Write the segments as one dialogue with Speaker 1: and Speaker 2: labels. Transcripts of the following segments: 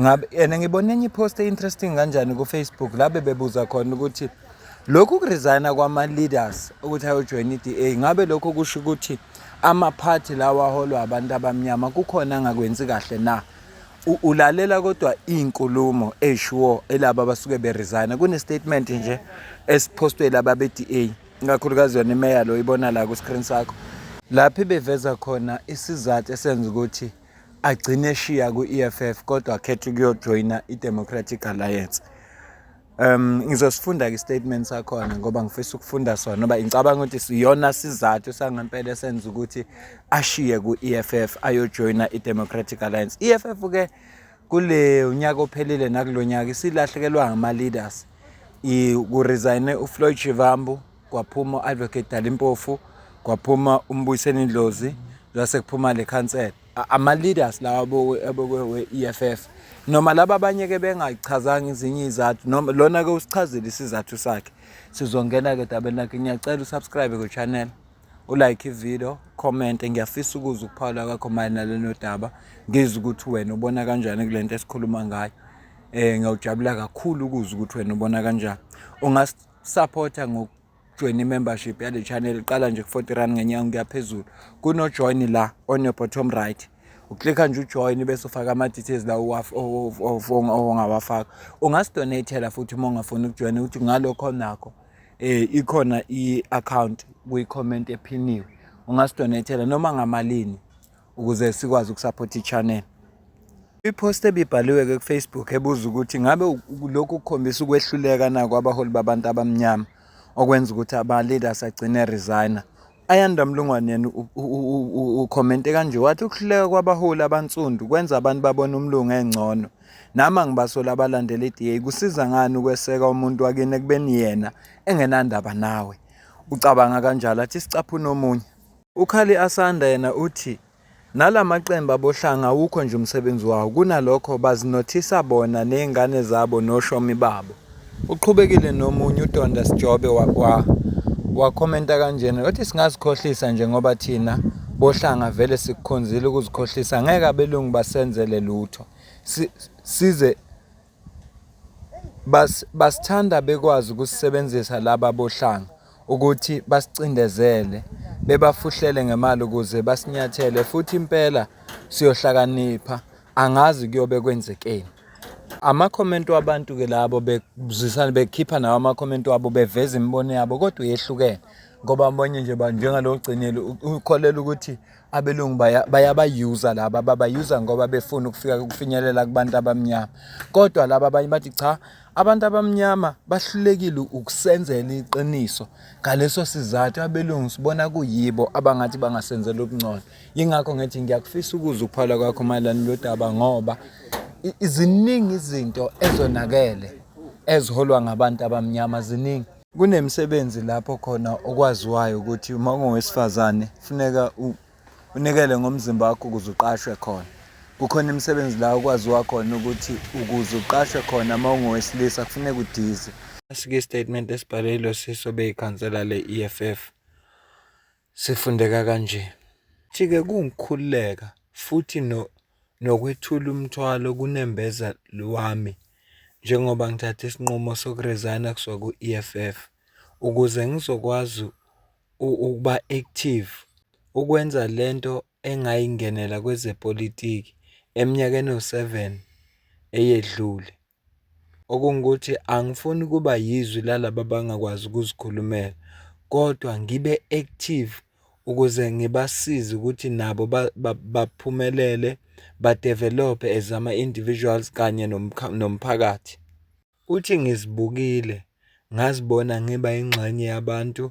Speaker 1: ngabe yena ngibona enye ipost e-interesting kanjani kufacebook la bebebuza khona ukuthi lokhu kuresigna kwama-leaders ukuthi ayojoyina i-d a ngabe lokho kusho ukuthi amaphathi lawa aholwa abantu abamnyama kukhona angakwenzi kahle na ulalela kodwa iy'nkulumo ey'shuwo elaba abasuke beresigna kune-statement nje esiphostwe laba be-d a ikakhulukazi yona imeya lo ibona la ku-screen sakho lapho ibeveza khona isizathu esenza ukuthi agcine eshiya ku-EFF kodwa akhethe ukuyojoyina i-Democratic Alliance um ngizosifunda ke statement sakhona ngoba ngifisa ukufunda sona ngoba ngicabanga ukuthi siyona sizathu sangempela esenza ukuthi ashiye ku-EFF ayojoyina i-Democratic Alliance EFF ke kule unyaka ophelile nakulonyaka isilahlekelwa ngama leaders i ku resign uFloyd Shivambu kwaphuma u-advocate dali mpofu kwaphuma umbuyiseni indlozi lase kuphuma le khansela ama-leaders lawa abokwe-eff noma laba abanye-ke bengayichazanga izinye izathu noma lona-ke usichazile isizathu sakhe sizongena-ke dabeni lakhe ngiyacela usubscribe kwe-channel ulike ividiyo khomente ngiyafisa ukuza ukuphawula kwakho mayelana lenodaba ngizwe ukuthi wena ubona kanjani kule nto esikhuluma ngayo um ngiyawujabula kakhulu ukuza ukuthi wena ubona kanjani Supporter ngoku join i-membership yale channel iqala nje ku-40 rand ngenyanga kuya phezulu kunojoin la on your bottom right uklikha nje ujoin bese ufaka ama-details la ongawafaka ungasidonatela futhi uma ungafuni ukujoyina ukuthi ngalokho nakho um ikhona i-account kwi-comment ephiniwe ungasidonatela noma ngamalini ukuze sikwazi ukusaphotha i-channel i-post ebibhaliwe-ke kufacebook ebuza ukuthi ngabe lokhu kukhombisa ukwehluleka nako abaholi babantu abamnyama okwenza ukuthi ama-leaders agcine resigner ayanda mlungwane yena ukhomente kanje wathi ukuhluleka kwabaholi abansundu kwenza abantu babone umlungu engcono nami angibasola abalandela i-da kusiza ngani ukweseka umuntu wakini ekubeni yena engenandaba nawe ucabanga kanjalo athi sicaphuna omunye UKhali Asanda yena uthi nala maqembu aboHlanga awukho nje umsebenzi wawo, kunalokho bazinothisa bona nezingane zabo noshomi babo. Uqhubekile nomunye uDonda Sijobe wakwa wakhomenta kanjena wathi singazikhohlisa nje ngoba thina boHlanga vele sikukhonzile ukuzikhohlisa ngeke abelungu basenzele lutho size Bas, basithanda bekwazi ukusisebenzisa laba bohlanga ukuthi basicindezele bebafuhlele ngemali ukuze basinyathele futhi impela siyohlakanipha angazi kuyobe kwenzekeni amakhomenti wabantu ke labo bekuzisana bekhipha nawo amakhomenti wabo beveza imibono yabo kodwa yehlukene ngoba abanye nje njengalo gcinile ukholela ukuthi abelungu bayabayuza laba babayuza ngoba befuna ukufika ukufinyelela kubantu abamnyama kodwa laba abanye bathi cha abantu abamnyama bahlulekile ukusenzela iqiniso ngaleso sizathu abelungu sibona kuyibo abangathi bangasenzela ubungcono yingakho ngithi ngiyakufisa ukuza ukuphala kwakho mayelana lodaba ngoba iziningi izinto ezonakele eziholwa ngabantu abamnyama ziningi Kunemisebenzi lapho khona okwaziwayo ukuthi uma ungowesifazane funeka unikele ngomzimba wakho ukuze uqashwe khona. Kukhona imisebenzi la okwaziwa khona ukuthi ukuze uqashwe khona uma ungowesilisa kufuneka udize. Asike isitatimende esibhalelwe siso beyikhansela le-EFF. Sifundeka kanje. Thi-ke kuwukukhululeka futhi no, nokwethula umthwalo kunembeza lwami njengoba ngithathe isinqumo sokurezayina kusuka ku-EFF ukuze ngizokwazi ukuba active ukwenza lento engayingenela kwezepolitiki eminyakeni ewu-7 eyedlule. Okungukuthi angifuni ukuba yizwi lalaba abangakwazi ukuzikhulumela kodwa ngibe active ukuze ngibasize ukuthi nabo baphumelele badevelophe as ama-individuals kanye nomphakathi. Uthi ngizibukile ngazibona ngiba ingxenye yabantu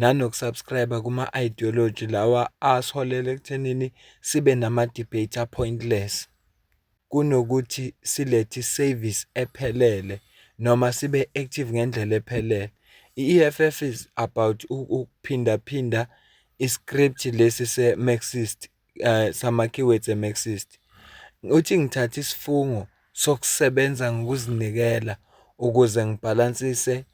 Speaker 1: nanoku-subscribe-a kuma-ideology lawa asiholele ekuthenini sibe nama-debate a-pointless. kunokuthi silethe isevisi ephelele noma sibe active ngendlela ephelele. I-E_F_F is about ukuphinda phinda i-script lesi se-marxist sama-keywords e-marxist. Uthi ngithathe isifungo sokusebenza ngokuzinikela ukuze ngibhalansise,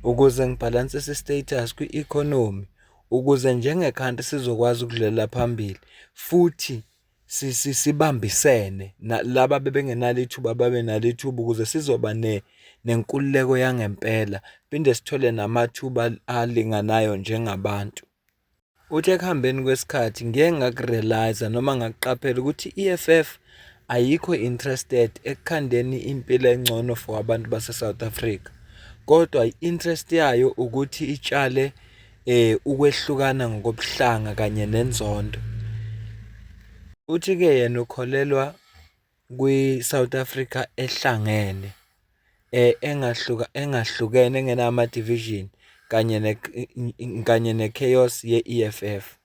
Speaker 1: ukuze ngibhalansise i-status kwi-economy ukuze njenge-country sizokwazi ukudlulela phambili futhi. sibambisene laba bebengenalo ithuba babe nalo ithuba ukuze sizoba ne nenkululeko yangempela phinde sithole namathuba alinganayo njengabantu. Uthi ekuhambeni kwesikhathi ngeke ngakurealize noma ngakuqaphela ukuthi i-EFF ayikho interested ekukhandeni impilo engcono for abantu base-South Africa kodwa i-interest yayo ukuthi itshale eh ukwehlukana ngokobuhlanga kanye nenzondo uthi ke yena ukholelwa kwi South Africa ehlangene eh engahluka engahlukene engenama division kanye ne kanye ne chaos ye EFF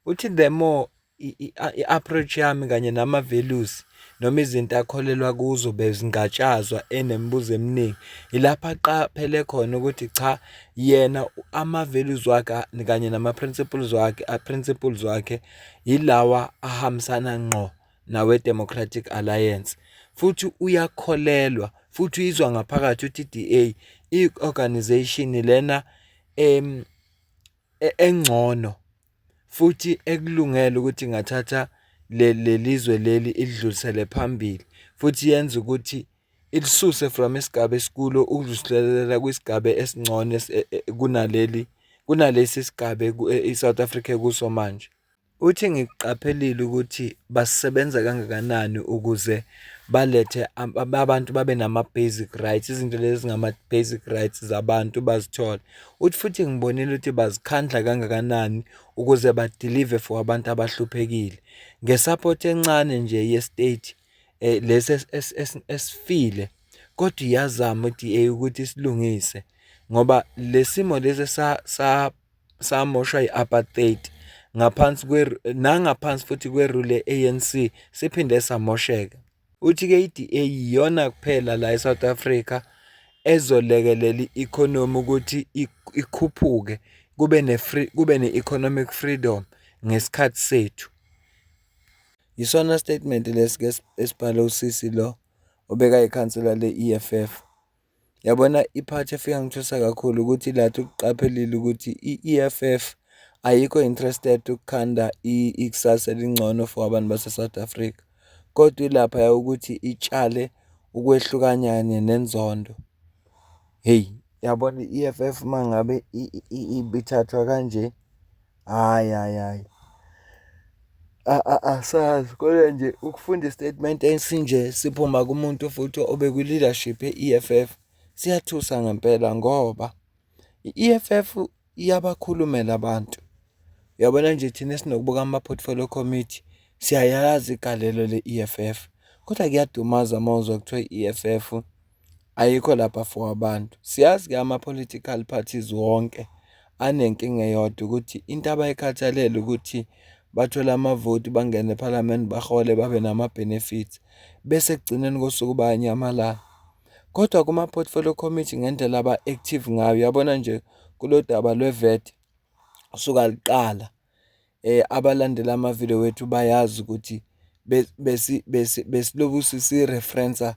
Speaker 1: Uthi the more i-approach yami kanye nama-values noma izinto akholelwa kuzo bezingatshazwa enemibuzo eminingi ilapho aqaphele khona ukuthi cha yena ama-values wakhe kanye nama-principles wakhe a-principles wakhe yilawa ahambisana ngqo nawe-democratic alliance futhi uyakholelwa futhi uyizwa ngaphakathi ukuthi i-DA i-organization lena em e-, engcono futhi ekulungele ukuthi ingathatha leli zwe leli ilidlulisele phambili futhi yenza ukuthi ilisuse from isigaba esikulo ukudluliselela kwisigaba esingcono e-, e-, kunaleli kunalesi sigaba i-South Africa ekuso manje. Uthi, Ngikuqaphelile ukuthi basebenza kangakanani ukuze balethe abantu babe nama-basic rights, izinto lezi ezingama-basic rights zabantu bazithole. Uthi futhi ngibonile ukuthi bazikhandla kangakanani ukuze badilive for abantu abahluphekile. Nge-support encane nje ye-state eh, lesi esifile kodwa iyazama i-DA ukuthi isilungise ngoba le simo lesi sa samoshwa i-apartheid ngaphansi nangaphansi futhi kwerule ANC siphinde samosheka uthi ke iDA iyona kuphela la eSouth Africa ezolekelela i-economy ukuthi ikhuphuke kube ne free kube ne economic freedom ngesikhathi sethu yisona statement lesike esibhale usisi lo obeka ikhansela le-EFF Yabona i-part efika ngithusa kakhulu ukuthi lathi ukuqaphelile ukuthi i-EFF ayikho interested ukukhanda ikusasa elingcono for abantu base-South Africa kodwa ilapha ukuthi itshale ukwehlukanyane nenzondo. Hheyi, yabona i-E_F_F uma ngabe ibithathwa kanje. Hhayi, hhayi, hhayi. Asazi kodwa nje ukufunda i-statement esinje siphuma kumuntu futhi obekwi-leadership ye-EFF siyathusa ngempela ngoba i-EFF iyabakhulumela abantu. Uyabona nje thina esinokubuka ama-portfolio committee siyayazi igalelo le-EFF kodwa kuyadumaza uma uzwa kuthiwa i-EFF Ayikho la bafo wabantu. Siyazi ke ama-political parties wonke anenkinga eyodwa ukuthi into abayikhathalele ukuthi bathole amavoti, bangene ephalamende, bahole babe nama-benefits. Bese ekugcineni kosuku bayanyamalala. Kodwa kuma-portfolio committee ngendlela aba-active ngayo, uyabona nje kulolu daba lwe-VAT, suka luqala. um abalandela amavidiyo wethu bayazi ukuthi besiloku sisi-reference-a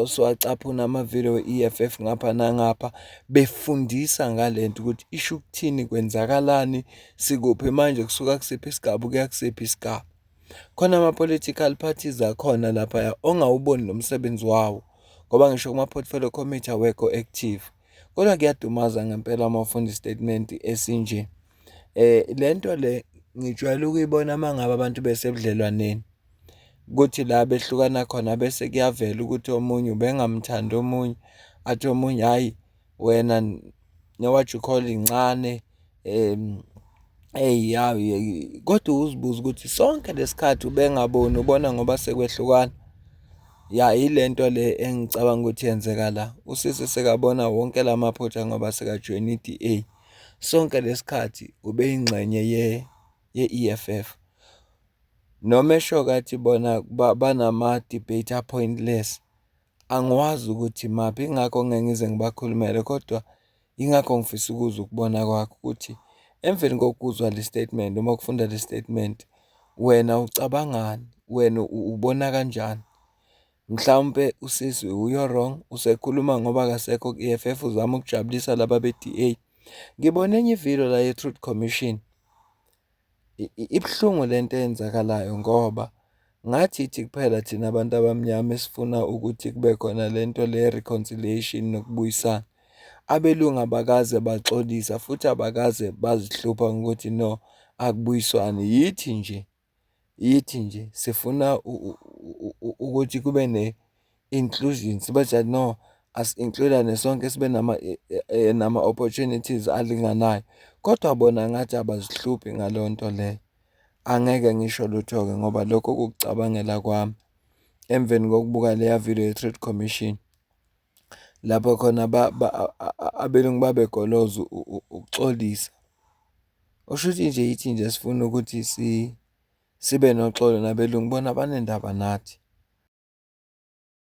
Speaker 1: siwacaphuna amavidiyo e-E_F_F ngapha nangapha, befundisa ngale nto ukuthi isho ukuthini, kwenzakalani, sikuphi manje, kusuka kusiphi isigaba ukuya kusiphi isigaba. Khona ama-political parties akhona laphaya ongawuboni nomsebenzi wawo ngoba ngisho kuma-portfolio committee awekho active. Kodwa kuyadumaza ngempela uma ufunda isitatimende esinje. Eh lento le ngijwayele ukuyibona mangabe abantu besebudlelwaneni kuthi la behlukana khona bese kuyavela ukuthi omunye ubengamthandi omunye athi omunye hayi wena newathi ukhole incane um eyi yayi kodwa uzibuza ukuthi sonke lesikhathi ubengaboni ubona ngoba sekwehlukana ya yilento le engicabanga ukuthi yenzeka la usisi sekabona wonke lamaphutha ngoba sekajoyina iDA Sonke lesikhathi ubeyingxenye ye ye-EFF. Noma eshoke athi bona banama-debate appointless, angiwazi ukuthi maphi ingakho ngeke ngize ngibakhulumele kodwa ingakho ngifisa ukuzwa ukubona kwakho ukuthi emveni kokuzwa le statement noma ukufunda le statement wena ucabangani, wena ubona kanjani? Mhlawumpe usisi uyo wrong usekhuluma ngoba akasekho ku-EFF uzama ukujabulisa laba be-DA. Ngibone enye ivideo la ye-Truth Commission. Ibuhlungu lento eyenzakalayo ngoba ngathi ithi kuphela thina abantu abamnyama esifuna ukuthi kube khona lento le reconciliation nokubuyisana. Abelungu abakaze baxolisa futhi abakaze bazihlupha ngokuthi no akubuyiswane yithi nje Yithi nje sifuna ukuthi kube ne-inclusion sibatshele no asi-include-ane sonke sibe nama nama-opportunities alinganayo kodwa bona ngathi abazihluphi ngaleyo nto leyo. Angeke ngisho lutho-ke ngoba lokho kukucabangela kwami emveni kokubuka leya video ye-Trade Commission. lapho khona abelungu babegoloza ukuxolisa. Okusho ukuthi nje yithi nje esifuna ukuthi sibe noxolo nabelungu bona banendaba nathi.